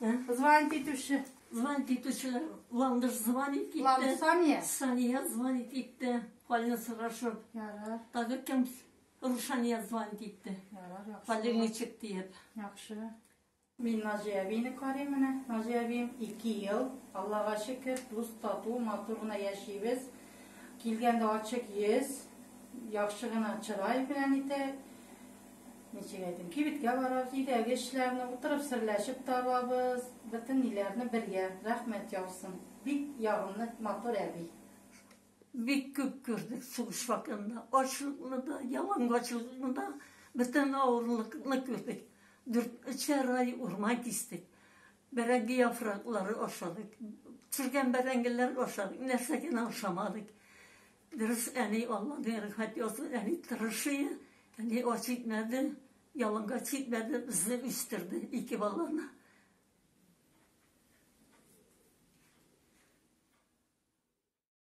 Звонить итүче. Звонить итүче Ландыш звонить итте. Ландыш Сания. Сания звонить итте. Хален сорашып. Ярар. Тагы кем? Рушания звонить итте. Ярар, яхшы. Хален ничек диеп. Яхшы. Мин Назия әбине карыйм менә. Назия әбием 2 ел. Аллага шөкер, дус тату, матур гына яшибез. Килгәндә ачык йөз, яхшы гына чырай белән итә. Ничек әйтим, кибеткә барабыз, өйдәге эшләрне утырып серләшеп табабыз, бөтен ниләрне бергә, рәхмәт яусын. Бик ягымлы, матур әби. Бик күп күрдек сугыш вакытында, ачлыкны да, ялангачлыкны да, бөтен авырлыкны күрдек. Дүрт, өчәр ай урман кистек, бәрәңге яфраклары ашадык, төшергән бәрәңгеләр ашадык, нәрсә генә ашамадык. Дөрес, әни Алланың рәхмәт язу, әни тырышы, әни ач итмәде, яланга читмәде, безне үстерде, ике баланы.